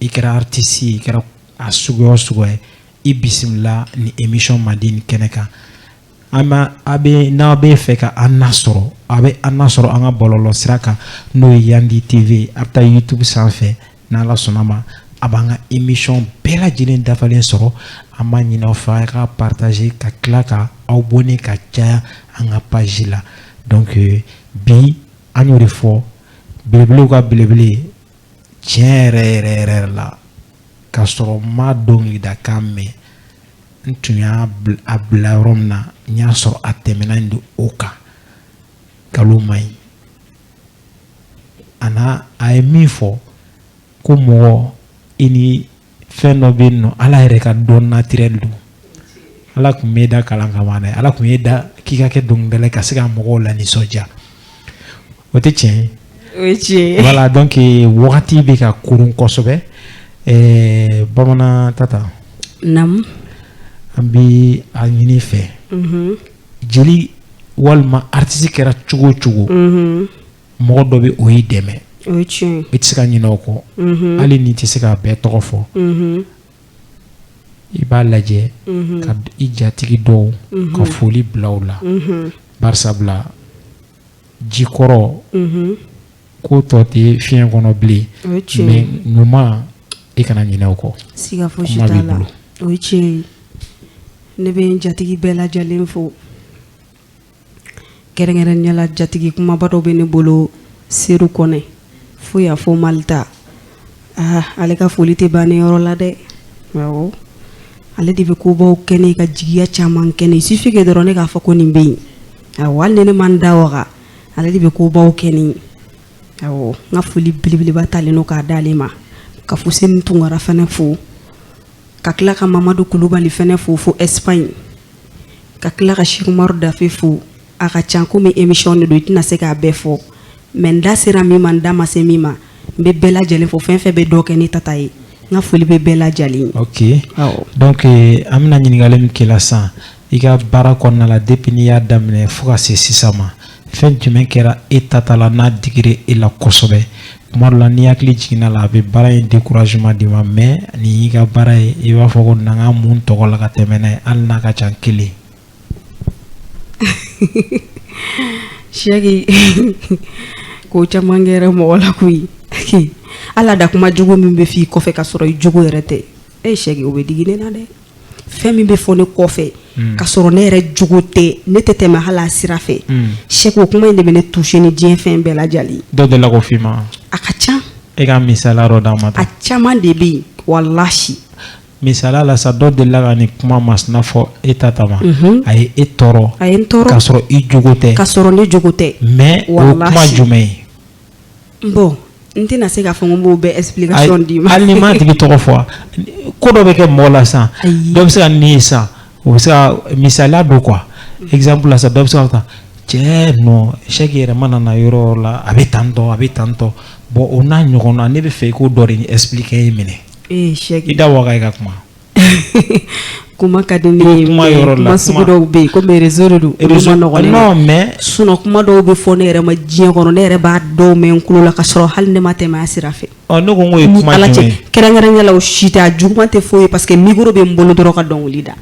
Speaker 1: i kɛra artiste i kɛra a suguya o suguya ye i bisimila ni émission mandi nin kɛnɛ kan an b'a a bɛ n'a bɛ fɛ ka an nasɔrɔ a bɛ an nasɔrɔ an ka bɔlɔlɔ sira kan n'o ye yandi tv a bɛ taa youtube sanfɛ n'ala sɔnna ma a b'an ka émission bɛɛ lajɛlen dafalen sɔrɔ an b'a ɲin'aw fɛ a ka partager ka tila ka aw abonner ka caya an ka page la donc bi an y'o de fɔ belebelew ka belebele tiɲɛ yɛrɛ yɛrɛ yɛrɛ la k'a sɔrɔ n ma dɔnkilidakan mɛn n tun y'a bila yɔrɔ min na n y'a sɔrɔ a tɛmɛna in don o kan nkalon ma ɲi a n'a a ye min fɔ ko mɔgɔ i ni fɛn dɔ bɛ yen n'o ala yɛrɛ ka don naturel don ala tun m'i da kalan kama dɛ ala tun y'i da k'i ka kɛ dɔnkilidala ka se ka mɔgɔw lanisɔndiya o tɛ tiɲɛ ye o ye tiɲɛ ye
Speaker 2: voilà donc eh,
Speaker 1: wagati bɛ ka kurun kosɛbɛ ɛɛ eh, bamanan tata
Speaker 2: naamu
Speaker 1: an bɛ a ɲini i fɛ mhm. jeli walima artiste kɛra cogo o cogo mhm. mɔgɔ dɔ bɛ o y'i dɛmɛ i
Speaker 2: tɛ se ka ɲinɛ o
Speaker 1: kɔ mhm. hali n'i tɛ se k'a bɛɛ tɔgɔ fɔ mhm. i b'a lajɛ mhm. ka i jatigi dɔw ka foli bila u la barisa bila jikɔrɔ ko tɔ tɛ fiɲɛ kɔnɔ bilen mais ɲuman i kana ɲinɛ o kɔ siga fosi t'a
Speaker 2: la o ye tiɲɛ ye ne bɛ n jatigi bɛɛ lajɛlen fo kɛrɛnkɛrɛnnenya la jatigi kunbaba dɔ bɛ ne bolo seru kɔnɛ fo y'a fɔ mali ta aa ale ka foli tɛ ban ne yɔrɔ la dɛ ale de bɛ kobaw kɛ ne ka jigiya caman kɛ ne il suffit que dɔrɔn ne k'a fɔ ko nin bɛ yen awɔ hali ni ne ma n da waga ale de bɛ kobaw kɛ ne n ka foli belebeleba talen don k'a d'ale ma ka fuseni tunkara fana fo ka tila ka mamadu kulubali fana fo fo espagne ka tila ka sɛki umaru dafe fo a ka ca komi émission de don i tɛna se k'a bɛɛ fɔ mais n da sera min ma n da ma se min ma n bɛ bɛɛ lajɛlen fo fɛn fɛn bɛ dɔ kɛ ne tata ye n ka foli bɛ bɛɛ lajɛlen ye ok
Speaker 1: donc an bɛna ɲininkali min k'i la sisan i ka baara kɔnɔna la depuis n'i y'a daminɛ fo ka se sisan ma fɛn jumɛn kɛra e tata la n'a digira e la kosɛbɛ tuma dɔ la n'i hakili jiginna la a bɛ baara in découragement d'i ma mais nin y'i ka baara ye i b'a fɔ ko na ka mun tɔgɔ la ka tɛmɛ n'a ye hali n'a ka ca
Speaker 2: kelen sɛki ko caman kɛra mɔgɔ la koyi ala da kuma jugu min bɛ f'i kɔfɛ ka sɔrɔ i jogo yɛrɛ tɛ ee sɛki o bɛ digi ne na dɛ fɛn min bɛ fɔ ne kɔfɛ mm. ka sɔrɔ ne yɛrɛ jogo tɛ ne tɛ tɛmɛ hali a sira fɛ mm. sɛki o kuma in de bɛ ne touché ni diɲɛ fɛn bɛɛ lajɛlen dɔ delila k'o f'i ma
Speaker 1: a ka ca
Speaker 2: e ka misaliya
Speaker 1: dɔ d'an ma a caman de bɛ
Speaker 2: yen walahi
Speaker 1: misaliya la sa dɔ delila ka nin kuma masina fɔ e tata ma mhm. a ye e tɔɔrɔ a ye n tɔɔrɔ k'a sɔrɔ i jogo tɛ k'a sɔrɔ ne jogo tɛ
Speaker 2: mais o kuma
Speaker 1: jumɛn ye
Speaker 2: n tɛna se k'a fɔ n b'o bɛɛ explication d'i ma hali n'i m'a tigi tɔgɔ fɔ
Speaker 1: wa ko dɔ bɛ kɛ mɔgɔ la sisan dɔ bɛ se ka nin ye sisan o bɛ se ka misaliya don quoi exemple la sisan dɔ bɛ se k'a ta cɛ non sɛki yɛrɛ mana na yɔrɔ o yɔrɔ la a bɛ tan tɔ a bɛ tan tɔ bon o n'a ɲɔgɔnna ne b'a fɛ i k'o dɔ de expliquer n ye minɛ i da
Speaker 2: waga i ka kuma. kuma ka di ne ye kuma yɔrɔ la kuma sugu dɔw bɛ yen komi réseau de don olu man nɔgɔn ne ma non mais sinon
Speaker 1: kuma dɔw bɛ
Speaker 2: fɔ ne yɛrɛ ma diɲɛ kɔnɔ ne yɛrɛ b'a dɔw mɛn n tulo la ka sɔrɔ hali ne ma tɛmɛ a sira fɛ ɔ ne ko n k'o ye kuma
Speaker 1: jumɛn ye kɛrɛnkɛrɛnnenya la o si tɛ
Speaker 2: a juguman tɛ foyi ye parce que micro bɛ n bolo dɔrɔn ka dɔnkili da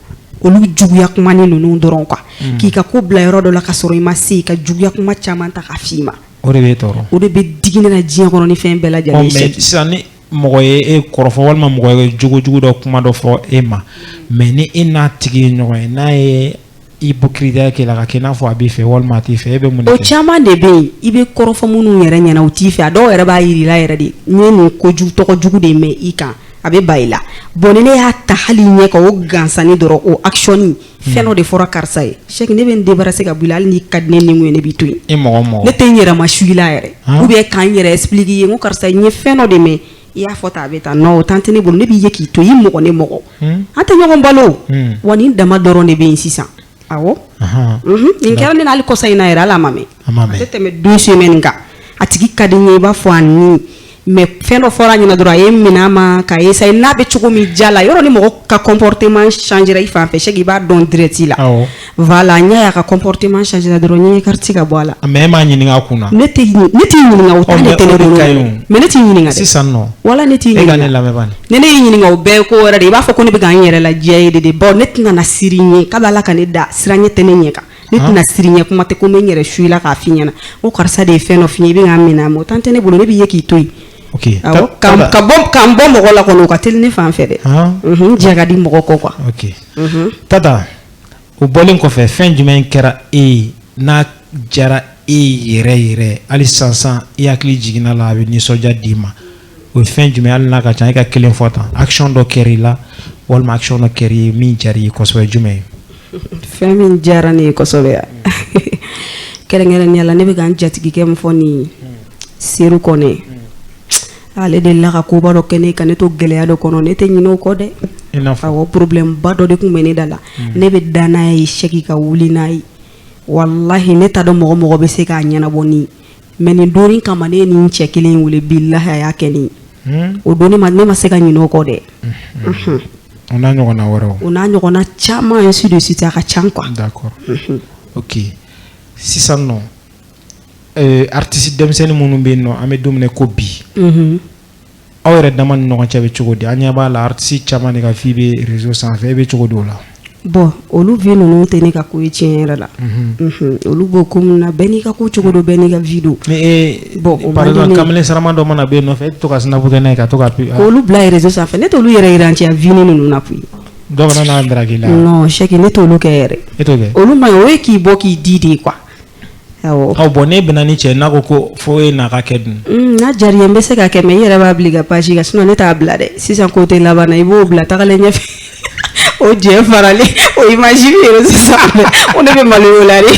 Speaker 2: olu juguya kuma ni ninnu dɔrɔn quoi hmm. k'i ka ko bila yɔrɔ dɔ la ka sɔrɔ i ma se ka juguya kuma caman ta k'a f'i ma o de bɛ tɔɔrɔ o de
Speaker 1: bɛ digi ne na
Speaker 2: diɲɛ kɔnɔ ni fɛn bɛɛ lajɛlen ye sisan ni
Speaker 1: mɔgɔ ye e kɔrɔfɔ walima mɔgɔ ye jogojugu dɔ kuma dɔ fɔ e ma mais ni e n'a tigi ye ɲɔgɔn ye n'a ye ipokiritiya kɛ i la k'a kɛ i n'a fɔ a b'i fɛ walima a t'i fɛ e bɛ mun o caman de bɛ
Speaker 2: yen i bɛ kɔrɔfɔ minnu yɛrɛ ɲɛna u t'i fɛ a dɔw yɛrɛ b'a jira i la yɛrɛ de n ye nin kojugu tɔgɔ jugu de mɛn i kan a bɛ ban i la bon ne y'a ta hali ɲɛ kan o gansanni dɔrɔn o action fɛn dɔ de fɔra karisa ye sɛki ne bɛ n débarrasser ka bɔ i la hali n'i ka di ne ni ye ne b'i to yen ne tɛ n yɛrɛma su i la yɛrɛ ou bien ka n yɛrɛ expliquer i ye ko karisa n ye fɛn dɔ de mɛn i y'a fɔ tan a bɛ tan non o tan tɛ ne bolo ne b'i ye k'i to yen mɔgɔ ne mɔgɔ an tɛ ɲɔgɔn balo wa nin dama dɔrɔn de bɛ yen sisan a nin kɛra ne n'ale kɔsa in na yɛrɛ hali a ma mɛn a tɛ tɛmɛ deux semaines kan a tigi ka di n ye i b'a fɔ a mais fɛn dɔ fɔra a ɲɛna dɔrɔn a y'a minɛ n ma ka essayer n'a bɛ cogo min ja la yɔrɔ ni mɔgɔ ka comportement changera i fan fɛ sɛki i b'a dɔn direct la voilà n y'a ye a ka comportement changera dɔrɔn n écarter ka bɔ a la mais e m'a ɲininka a
Speaker 1: kun na ne
Speaker 2: t'i ɲininka o tɛ ne tɛ mais ne t'i ɲininka sisan non wala ne
Speaker 1: t'i ɲininka
Speaker 2: ne lamɛn ni
Speaker 1: ne y'i ɲininka o bɛɛ
Speaker 2: ye ko wɛrɛ de i b'a fɔ ko ne bɛ ka n yɛrɛ ladiya i ye de de bon ne tɛna na siran i ɲɛ kabi ala ka ne da siranɲɛ tɛ ne ɲɛ kan ne tɛna siran i ɲɛ kuma tɛ ko n bɛ n yɛrɛ su i la k'a f'i ɲɛna ko karisa de ye fɛn dɔ f'i ye i bɛ k'a minɛ n ma o tan tɛ ne bolo ne b'i ye k'i to yen ka n bɔ mɔgɔ la kɔni o ka teli ne fan fɛ dɛ diɲɛ ka di mɔgɔ kɔ
Speaker 1: quoi tata o bɔlen kɔfɛ fɛn jumɛn kɛra e ye n'a diyara e yɛrɛ yɛrɛ hali sansan i hakili jiginna a la a bɛ nisɔndiya d'i ma o ye fɛn jumɛn hali n'a ka ca e ka kelen fɔ tan action dɔ kɛra i la walima action dɔ kɛra i ye min diyara i ye kosɛbɛ jumɛn ye. fɛn min
Speaker 2: diyara ne ye kosɛbɛ yan kɛrɛnkɛrɛnnenya la ne bɛ ka n jatigikɛ min fɔ nin ye seru kɔnɛ ale de la ka koba dɔ kɛ ne ka ne to gɛlɛya dɔ kɔnɔ ne tɛ ɲinɛ o kɔ dɛ awɔ problème ba dɔ de tun bɛ ne da la hmm. ne bɛ da n'a ye sɛki ka wuli n'a ye walahi ne t'a dɔn mɔgɔ mɔgɔ bɛ se k'a ɲɛnabɔ ni mais nin don nin kama ne ye nin cɛ kelen wele billahi a y'a kɛ ne hmm? o don ne ma ne ma se ka ɲinɛ o kɔ dɛ hmm.
Speaker 1: o n'a ɲɔgɔnna wɛrɛw o n'a ɲɔgɔnna
Speaker 2: caman ainsi de suite a ka ca quoi d'accord.
Speaker 1: ok sisan nɔ artiste denmisɛnnin minnu bɛ yen nɔ an bɛ don min na ko bi aw yɛrɛ dama ni ɲɔgɔn cɛ bɛ cogo di an ɲɛ b'a la artiste caman de ka vie bɛ réseau sanfɛ e bɛ cogo di o la bon olu
Speaker 2: vie ninnu tɛ ne ka ko ye tiɲɛ yɛrɛ la mhm. olu b'o ko min na bɛɛ n'i ka ko cogo don bɛɛ n'i ka vie don mais bon
Speaker 1: o man di ne ye kamalen sarama dɔ mana bɛ yen nɔfɛ e bɛ to ka snap kɛ n'a ye ka to ka k'olu bila
Speaker 2: réseau sanfɛ ne t'olu yɛrɛ yira an cɛ vie ninnu na koyi dɔ kana n'a
Speaker 1: daraki la non Cheick ne t'olu
Speaker 2: kɛ yɛrɛ e t'o kɛ olu man ɲi
Speaker 1: o ye k'i bɔ k'i
Speaker 2: di de ye quoi Bon n'e bɛnna
Speaker 1: ni cɛ n'a ko ko fo e n'a ka kɛ dun n'a diyara i ye n bɛ se
Speaker 2: k'a kɛ mais i yɛrɛ b'a bila i ka page kan sinon ne t'a bila dɛ sisan ko tɛ laban na i b'o bila tagalen ɲɛfɛ o jɛ faralen o image bɛ réseau sanfɛ o ne bɛ maloya o la
Speaker 1: de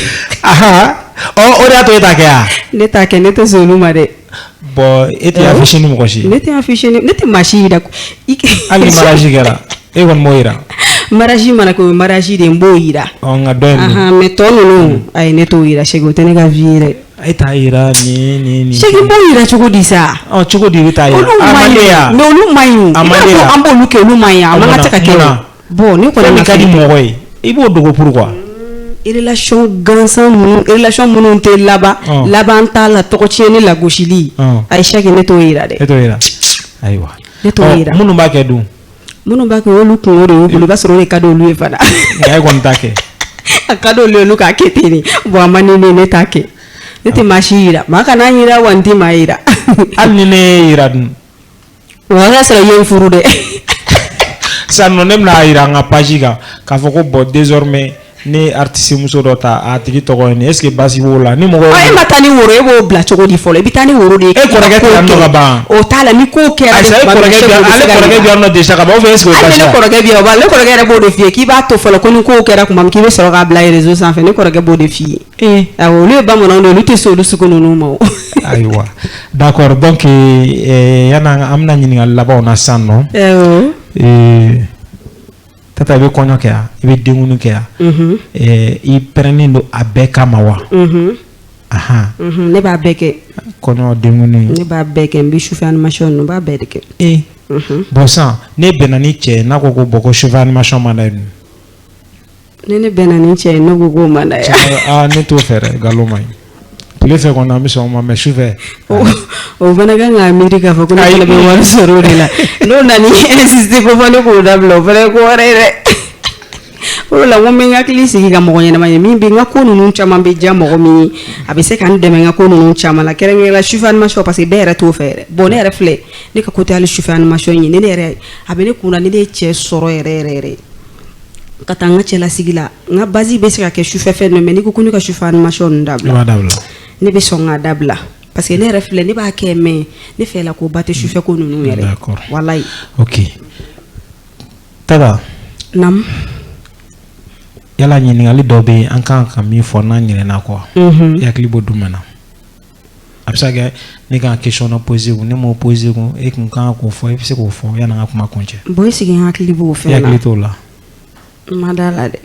Speaker 1: o de y'a to e t'a kɛ wa ne t'a kɛ ne tɛ
Speaker 2: sɔn olu ma dɛ Bon
Speaker 1: e tɛ affiché ni mɔgɔ si ne tɛ affiché ne
Speaker 2: tɛ maa si jira
Speaker 1: hali ni mariage kɛra e kɔni m'o jira mariage mana kɛ
Speaker 2: o ye mariage de n b'o jira nka
Speaker 1: mais tɔ ninnu
Speaker 2: ayi ne t'o jira Cheick o tɛ ne ka vie yɛrɛ e t'a
Speaker 1: jira ni Cheick n b'o jira
Speaker 2: cogo di sa cogo di i bɛ
Speaker 1: t'a jira olu man
Speaker 2: ɲi an b'olu kɛ olu man ɲi a man ka kɛ Bon ne kɔni min ka di mɔgɔ
Speaker 1: ye i b'o dogo
Speaker 2: pourquoi relation gansan minnu tɛ laban laban t'a la tɔgɔ tiɲɛni lagosili ayi Cheick ne t'o yira dɛ e t'o yira
Speaker 1: ayiwa ne
Speaker 2: t'o yira minnu b'a kɛ dun
Speaker 1: minnu b'a kɛ
Speaker 2: olu kunko de y'u bolo i b'a sɔrɔ o de ka di olu ye fana nka e kɔni t'a
Speaker 1: kɛ a
Speaker 2: ka di olu ye olu k'a kɛ ten bon a man di ne ne t'a kɛ ne tɛ maa si yira maa kana n yira wa n tɛ maa yira hali ni ne y'i
Speaker 1: yira dun o
Speaker 2: y'a sɔrɔ i ye n furu
Speaker 1: dɛ sisan nɔ ne bɛ n'a yira n ka page kan k'a fɔ ko bon désormais ne ye artiste muso dɔ ta a tigi tɔgɔ ye nin est ce que basi b'o la ni mɔgɔ ye. e ma taa ni woro e b'o
Speaker 2: bila cogo di fɔlɔ i bɛ taa ni woro de ye. e kɔrɔkɛ tɛ yan nɔ ka
Speaker 1: ban. o t'a la ni ko
Speaker 2: kɛra. ayiwa e kɔrɔkɛ
Speaker 1: bɛ yan ale kɔrɔkɛ bɛ yan nɔ déjà ka ban ou bien est ce que o basi la. hali ne kɔrɔkɛ bɛ yan o b'a ne
Speaker 2: kɔrɔkɛ yɛrɛ b'o de f'i ye k'i b'a to fɔlɔ ko ni ko kɛra tuma min k'i bɛ sɔrɔ k'a bila réseau sanfɛ ne kɔrɔkɛ b'o de f'i ye. Ee a olu ye bamananw de olu tɛ sɔn olu sugu ninnu ma
Speaker 1: ayiwa d'accord donc yan an bɛna ɲininkali laban na sisan nɔ ee Tata i bɛ kɔɲɔ kɛ yan i bɛ denkundi kɛ yan i pɛrɛnnen don a bɛɛ kama
Speaker 2: wa ne b'a bɛɛ kɛ
Speaker 1: kɔɲɔ ne b'a bɛɛ kɛ n bɛ
Speaker 2: sufɛ animation ninnu n b'a bɛɛ de kɛ e bon sisan n'e
Speaker 1: bɛnna ni cɛ n'a ko ko bon ko sufɛ animation man d'a
Speaker 2: ni ne bɛnna ni cɛ ye ne ko k'o man d'a ye aa ne t'o fɛ
Speaker 1: dɛ nkalon man ɲi tile fɛ kɔni an bɛ sɔn o ma mais sufɛ
Speaker 2: o fana kan k'a miiri k'a fɔ ko ne fana bɛ wari sɔrɔ o de la n'o nana insister ko fɔ ne k'o dabila o fana ye ko wɛrɛ ye dɛ o de la n ko n bɛ n hakili sigi ka mɔgɔ ɲɛnama ye min bɛ n ka ko ninnu caman bɛ diya mɔgɔ min ye a bɛ se ka n dɛmɛ n ka ko ninnu caman la kɛrɛnkɛrɛnnenya sufɛ animation parce que bɛɛ yɛrɛ t'o fɛ yɛrɛ bon ne yɛrɛ filɛ ne ka ko tɛ hali sufɛ animation ye ni ne yɛrɛ a bɛ ne kun na ni ne ye cɛ sɔrɔ yɛrɛ yɛrɛ yɛrɛ ka taa n ka cɛlasigi la n ka base bɛ se ka kɛ sufɛ fɛn mais n'i ko ko ne ka sufɛ animation ninnu dabila ne bɛ sɔn k'a dabila parce que ne yɛrɛ filɛ ne b'a kɛ mais ne fɛ la ko ba tɛ sufɛ ko ninnu yɛrɛ
Speaker 1: walayi ok Tata naamu yala ɲininkali dɔ bɛ yen an kan ka min fɔ n'an ɲinɛna quoi i hakili b'o jumɛn na a bɛ se ka kɛ ne kan ka question dɔ poser kun ne m'o poser kun e kun kan k'o fɔ e bɛ se k'o fɔ yanni
Speaker 2: an
Speaker 1: ka kuma
Speaker 2: kuncɛ.
Speaker 1: bon e
Speaker 2: sigi
Speaker 1: n hakili b'o fɛn na. e
Speaker 2: hakili
Speaker 1: t'o la. n ma
Speaker 2: d'a la dɛ.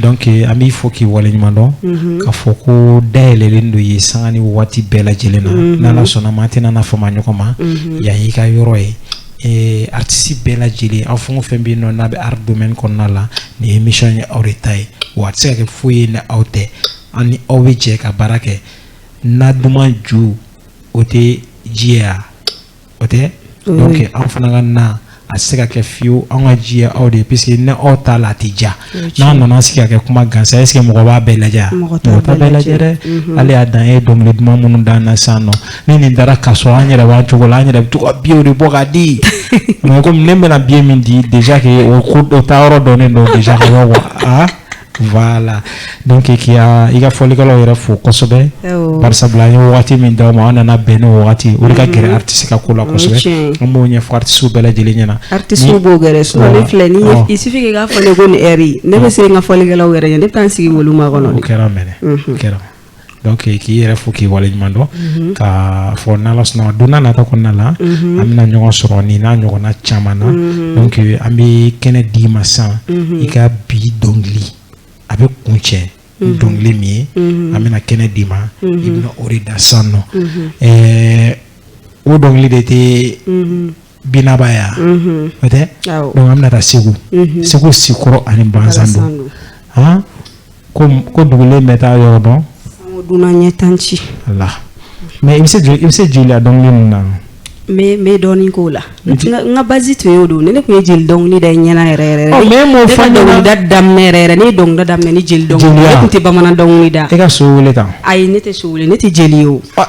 Speaker 2: donc
Speaker 1: an b'i fo k'i waleɲuman dɔn. Mhm. k'a fɔ ko dayɛlɛlen don ye sanga ni waati bɛɛ lajɛlen na. Mhm. n'ala sɔnna ma an tɛna na fama ɲɔgɔn ma. Mhm. yan y'i ka yɔrɔ ye. Eh, artiste bɛɛ lajɛlen aw fɛn o fɛn bɛ yen nɔ n'a bɛ art domaine kɔnɔna la nin émission ye aw de ta ye wa a tɛ se ka kɛ foyi ye ni aw tɛ an ni aw bɛ jɛ ka baara kɛ na duman ju o tɛ ji ye o tɛ donc an fana ka na a se ka kɛ fiyewu an ka ji ye aw de ye parce que ni aw t'a la a tɛ diya n'an nana sigi ka kɛ kuma gansan est ce que mɔgɔ b'a bɛɛ lajɛ mɔgɔ t'a bɛɛ lajɛ dɛ mhm. hali a dan e ye dɔnkili duman minnu d'an na sisan nɔ ni nin dara ka sɔrɔ an yɛrɛ b'an cogo la an yɛrɛ bɛ to ka biyew de bɔ k'a di mais comme ne bɛna biye min di déjà que o ko o taa yɔrɔ dɔnnen don déjà ka bɔ quoi Wala don k' k' i ka fɔlikɛlaw yɛrɛ fo kosɛbɛ ye waati min da ma an nana bɛn ni waati o ka gɛrɛ tɛ se ka ko la kosɛbɛ an b'o ɲɛtiso bɛɛ lajɛlen ɲɛna
Speaker 2: filɛfin' fɔ ne bɛ se n ka fɔlikɛlaw yɛrɛ ye ne taa n sigi wolo ma kɔnɔ kɛra
Speaker 1: kɛra donc eh, k'i yɛrɛ fo k'i waleɲuman dɔn mhm. k'a fɔ n'ala sɔnna don n'a nata kɔnɔna la mhm. an bɛna ɲɔgɔn sɔrɔ nin n'a ɲɔgɔnna caman na mhm. donc eh, an bɛ kɛnɛ d'i ma sisan i ka bi dɔnkili a bɛ kuncɛ dɔnkili min ye an bɛna kɛnɛ d'i ma i bɛna o de da sisan nɔ eh, o dɔnkili de tɛ binaba yan o tɛ donc an bɛna taa Segu Segu Sikɔrɔ ani balansan don ko dugulen bɛɛ t'a yɔrɔ dɔn dunan ɲɛ
Speaker 2: tan ci la
Speaker 1: mais i bɛ se jeliya dɔnkili ninnu na n bɛ
Speaker 2: dɔɔnin k'o la n ka base tun y'o don ne tun ye jeli dɔnkili da ɲɛna yɛrɛ
Speaker 1: mais n b'o fɔ ne ka dɔnkilida
Speaker 2: daminɛ yɛrɛ yɛrɛ ne ye dɔnkilida daminɛ ni jeli dɔnkili ne tun tɛ bamanan dɔnkili da e ka so weele kan
Speaker 1: ayi ne tɛ so weele ne
Speaker 2: tɛ jeli ye o wa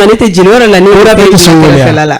Speaker 2: ne tɛ jeli yɔrɔ la ne bɛ la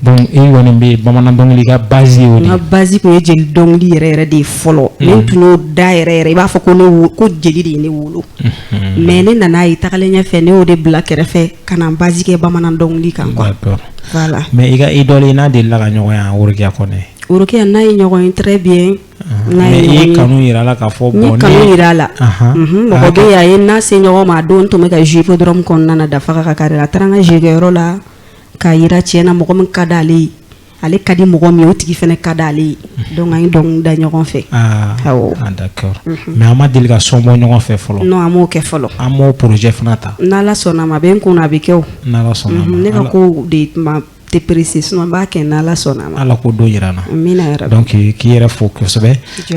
Speaker 2: Donc e kɔni
Speaker 1: bɛ bamanan dɔnkili ka base ye o de ye, n ka base tun ye
Speaker 2: jeli dɔnkili yɛrɛ yɛrɛ de ye fɔlɔ, unhun, ne tun y'o da yɛrɛ yɛrɛ i b'a fɔ ko ne wo ko jeli de ye ne wolo, unhun, mais ne nan'a ye tagalen ɲɛfɛ ne y'o de bila kɛrɛfɛ ka na n base kɛ bamanan dɔnkili kan quoi, d'accord, voilà, mais i ka
Speaker 1: idole i n'a delila ka ɲɔgɔn ye wa Worokiya Kɔnɛ? Worokiya n'a ye
Speaker 2: ɲɔgɔn ye très bien, unhun, n'a ye ɲɔgɔn ye, mais i
Speaker 1: ye kanu jira a la k'a fɔ bon ne ye kanu jira a la,
Speaker 2: anhan, unhun, mɔgɔ bɛ yen a ye n n'a se ɲɔgɔn ma a don n tun bɛ ka jouer hippodrome kɔnɔna na Dafaga ka carré la a taara n ka jouer kɛyɔrɔ la k'a yira tiɲɛ na mɔgɔ min ka di ale ye ale ka di mɔgɔ min o tigi fana ka di ale ye mhm. donc an ye dɔnkili da ɲɔgɔn fɛ ah, awɔ ah, d'accord mhm.
Speaker 1: mais an ma deli ka son bɔ ɲɔgɔn fɛ fɔlɔ non an m'o kɛ fɔlɔ
Speaker 2: an m'o projet fana
Speaker 1: ta n'ala sɔnna ma a bɛ n
Speaker 2: kun na a bɛ kɛ o n'ala sɔnna ma
Speaker 1: ne ka kow de
Speaker 2: tuma tɛ pressé sinon n b'a kɛ n'ala sɔnna ma ala k'o don yira an
Speaker 1: na amina yarabi
Speaker 2: donc k'i yɛrɛ
Speaker 1: fo kosɛbɛ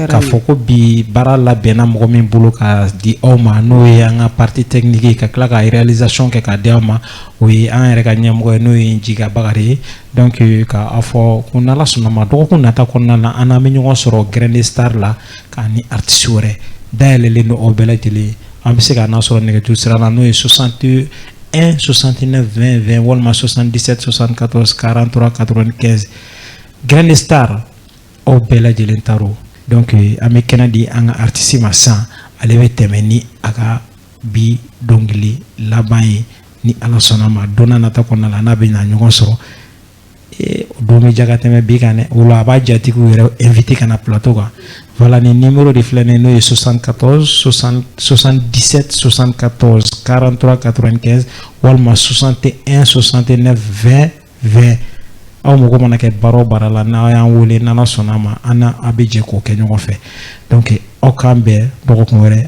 Speaker 1: k'a fɔ ko bi baara labɛnna mɔgɔ min bolo k'a di aw ma n'o ye an ka partie technique ye ka tila ka réalisation kɛ k'a di aw ma o ye an yɛrɛ ka ɲɛmɔgɔ ye n'o ye Jiga Bakari ye donc k'a fɔ ko n'ala sɔnna ma dɔgɔkun nata kɔnɔna na an n'aw bɛ ɲɔgɔn sɔrɔ Grand Star la k'a ni artiste wɛrɛ dayɛlɛlen don aw bɛɛ lajɛlen aw bɛ se k'an sɔrɔ nɛgɛjuru sira la n'o ye 61 69 20 20 walima 77 74 43 95 Grand Star aw bɛɛ lajɛlen ta don donc an bɛ kɛnɛ di an ka artiste ma sisan ale bɛ tɛmɛ ni a ka bi dɔnkili laban ye ni ala sɔnna ma don nata kɔnɔna la n'a bɛ na ɲɔgɔn sɔrɔ o don bɛ diya ka tɛmɛ bi kan dɛ o la a b'a jatigiw yɛrɛ inviter ka na plateau kan voilà ni numéro de filɛ nin n'o ye 74 60 77 74 43 95 walima 61 69 20 20 aw mago mana kɛ baara o baara la n'aw y'an wele n'ala sɔnna a ma an n'aw bɛ jɛ k'o kɛ ɲɔgɔn fɛ donc aw k'an bɛn dɔgɔkun wɛrɛ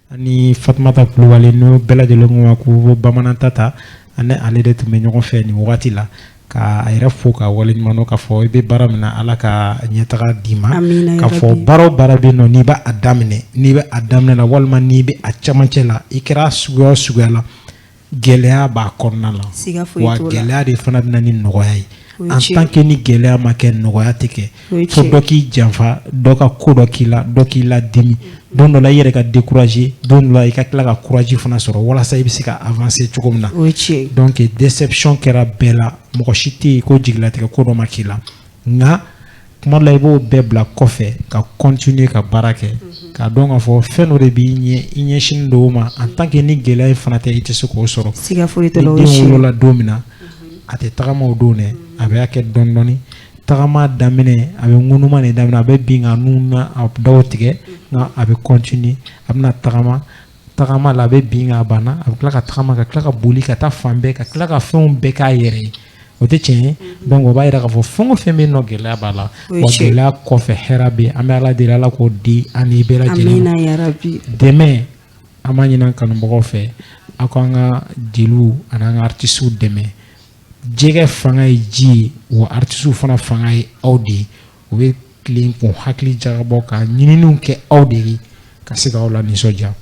Speaker 1: Ani fatumata kulubali n'o bɛɛ lajɛlen ko a ma ko Bamanan Tata an ni ale de tun bɛ ɲɔgɔn fɛ nin wagati la ka a yɛrɛ fo k'a waleɲuman dɔn k'a fɔ i bɛ baara min na ala ka ɲɛtaga d'i ma k'a fɔ baara o baara bɛ nɔ n'i b'a daminɛ n'i bɛ a daminɛ na walima n'i bɛ a camancɛ la i kɛra suguya o suguya la gɛlɛya b'a kɔnɔna la wa gɛlɛya de fana bɛ na ni nɔgɔya ye en tant que ni gɛlɛya ma kɛ nɔgɔya tɛ kɛ fo dɔ k'i janfa dɔ ka ko dɔ k'i la dɔ k'i ladimi don dɔ la i yɛrɛ ka décourager don dɔ la i ka tila ka courage fana sɔrɔ walasa i bɛ se ka avancer cogo min na donc déception kɛra bɛɛ la mɔgɔ si tɛ yen ko jigilatigɛ ko dɔ ma k'i la nka tuma dɔ la i b'o bɛɛ bila kɔfɛ ka continuer ka baara kɛ k'a dɔn k'a fɔ fɛn dɔ de b'i ɲɛ i ɲɛsinnen don o ma en tant que ni gɛlɛya in fana tɛ i tɛ se k'o sɔrɔ ni den wolola don min na a tɛ tagama o don dɛ a b'a kɛ dɔɔni dɔɔni tagama daminɛ a bɛ ŋunuma de daminɛ a bɛ bin k'a nun n'a daw tigɛ nka a bɛ continuer a bɛna tagama tagama la a bɛ bin k'a banna a bɛ tila ka tagama ka tila ka boli ka taa fan bɛɛ ka tila ka fɛnw bɛɛ k'a yɛrɛ ye o tɛ tiɲɛ ye mhm. donc o b'a yira k'a fɔ fɛn o fɛn bɛ yen nɔ gɛlɛya b'a la wa gɛlɛya kɔfɛ hɛrɛ bɛ yen an bɛ ala deli ala k'o di an ni bɛɛ lajɛlen ma dɛmɛ an b'a ɲini kanubagaw fɛ aw k'an ka jeliw ani an ka artisiw dɛmɛ jɛgɛ fanga ye ji ye wa artisiw fana fanga ye aw de ye u bɛ tilen k'u hakili jagabɔ ka ɲininiw kɛ aw de ye ka se k'aw lanisɔndiya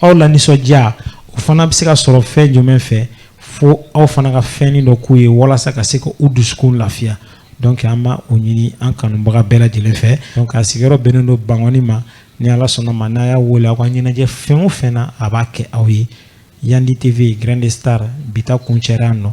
Speaker 1: aw lanisɔndiya o fana bɛ se ka sɔrɔ fɛn jumɛn fɛ fo aw fana ka fɛn dɔ k'u ye walasa ka se ka u dusukun lafiya donc an b'o ɲini an kanubaga bɛɛ lajɛlen fɛ donc a sigiyɔrɔ bɛnnen don bangɔni ma ni ala sɔnn'a ma n'a y'a wele aw ka ɲɛnajɛ fɛn o fɛn na a b'a kɛ aw ye yandi tv grande star bi ta kuncɛra yan nɔ